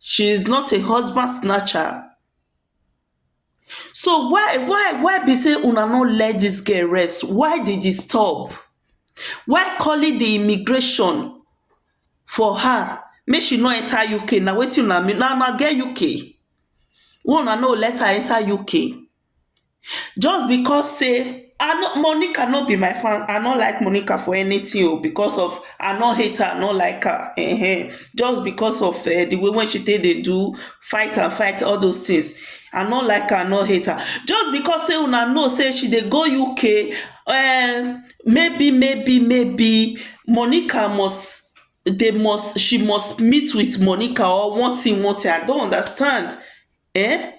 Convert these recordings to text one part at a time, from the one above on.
she is not a husband snatcher so why why why be say una no let dis girl rest why di disturb why calling di immigration for her make she no enter UK na wetin una mean na una get UK wey una no let her enter UK. Just because sey I no Monica no be my fan I no like Monica for anything oh because of I no hate her I no like her um just because of um the way wey she take dey do fight and fight all those things I no like her I no hate her just because sey una know sey she dey go UK um maybe maybe maybe Monica must they must she must meet with Monica or one thing one thing I no understand um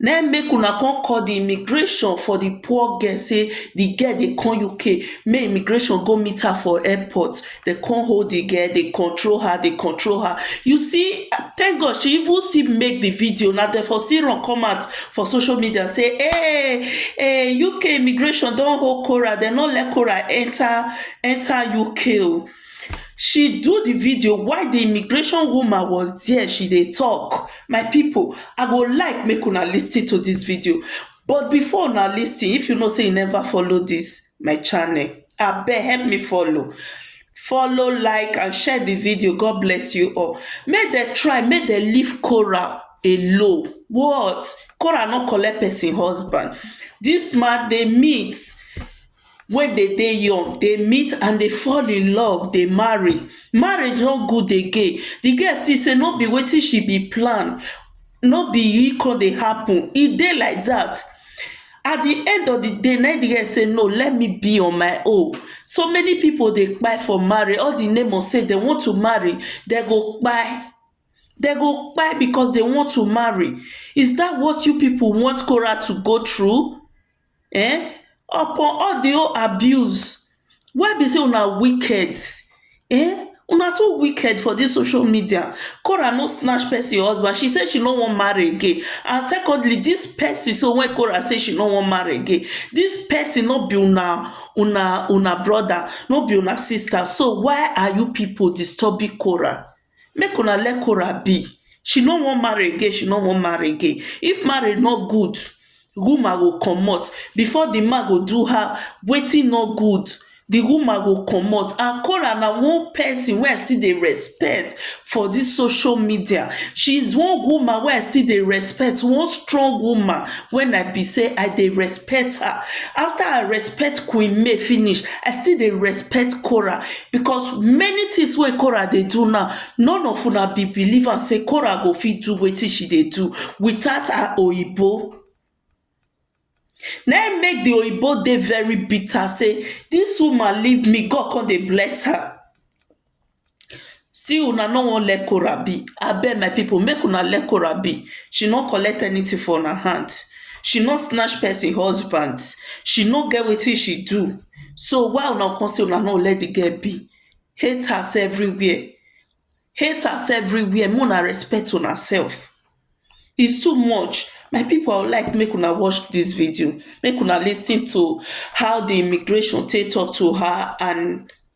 na im make una come call di immigration for di poor girl say di girl dey come uk make immigration go meet her for airport dey come hold di girl dey control her dey control her you see thank God she even still make di video na dem for still run come out for social media say hey hey uk immigration don hold Korah dem no let Korah enter enter uk o she do di video while di immigration woman was dia she dey tok my pipo i go like make una listen to dis video but before una listen if you know say you neva follow dis my channel abeg help me follow follow like and share di video god bless you all make dem try make dem leave coral alone what coral no collect person husband dis man dey meet wey dey dey young dey meet and dey fall in love dey marry marriage no good again di girl see say no be wetin she be plan no be e come dey happen e dey like dat at di end of di day na im di girl say no let me be on my own so many pipo dey kpai for marriage all di name of say dem want to marry dem go kpai dem go kpai because dem want to marry is dat what you pipo want Korah to go through um upon all di whole abuse why be sey una wicked um una too wicked for dis social media Korah no snatch person husband, she say she no wan marry again and secondly dis person so wey Korah say she no wan marry again dis person no be una una una brother no be una sister so why are you people disturbing Korah make una let Korah be she no wan marry again she no wan marry again if marry no good woman go comot before the man go do her wetin no good the woman go comot and Korah na one person wey I still dey respect for this social media she is one woman wey I still dey respect one strong woman when I be say I dey respect her after I respect queen May finish I still dey respect Korah because many things wey Korah dey do now, none of una be believe am sey Korah go fit do wetin she dey do without her Oyibo. Na im make the Oyibo dey very bitter sey dis woman leave me, God con dey bless her. Still una no wan let Korah be, abeg my people make una let Korah be, she no collect anything for una hand, she no snatch person husband, she no get wetin she do. so why una come say una no let the girl be haters everywhere haters everywhere make una respect una self is too much my people i go like make una watch this video make una lis ten to how the immigration take talk to her and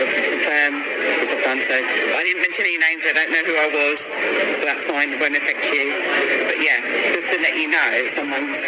Obviously confirm if I've done so. But I didn't mention any names, I don't know who I was, so that's fine, it won't affect you. But yeah, just to let you know if someone's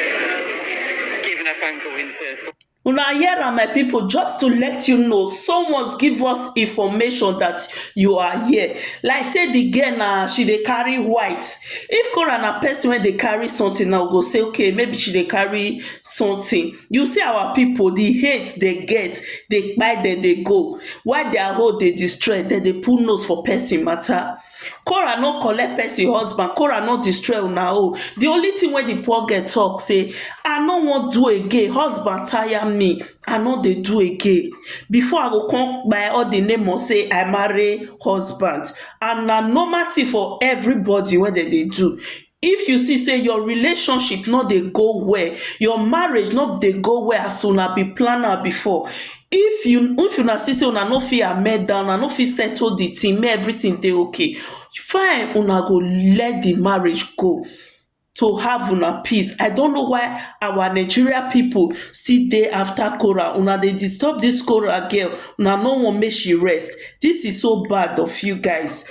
given a phone call into una hear am my people just to let you know someone's give us information that you are here like say the girl na she dey carry white if kora na person wey dey carry something na we go say okay maybe she dey carry something You see our people the hate they get they kpai dem dey go while their own dey destroy dem dey put nose for person matter Korah no collect person husband Korah no destroy una own the only thing wey the poor girl talk say I no wan do again husband tire me I no dey do again before I go come kpai all the name of say I marry husband and na normal thing for everybody wey dem dey do If you see say your relationship no dey go well, your marriage no dey go well as una be plan am before, if you if una see say una no fit amend am, una no fit settle di thing make everything dey okay, fine una go let di marriage go to have una peace. I don't know why our Nigeria people still dey after quarrel, una dey disturb dis quarrel girl, una no want make she rest, dis is so bad of you guys.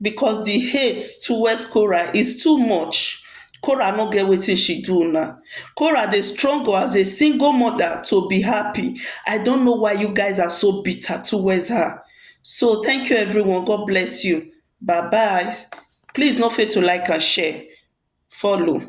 Because the hate towards Korah is too much, Korah no get wetin she do una, Korah dey struggle as a single mother to be happy, I don't know why you guys are so bitter towards her, so thank you everyone God bless you bye bye please no fail to like and share follow.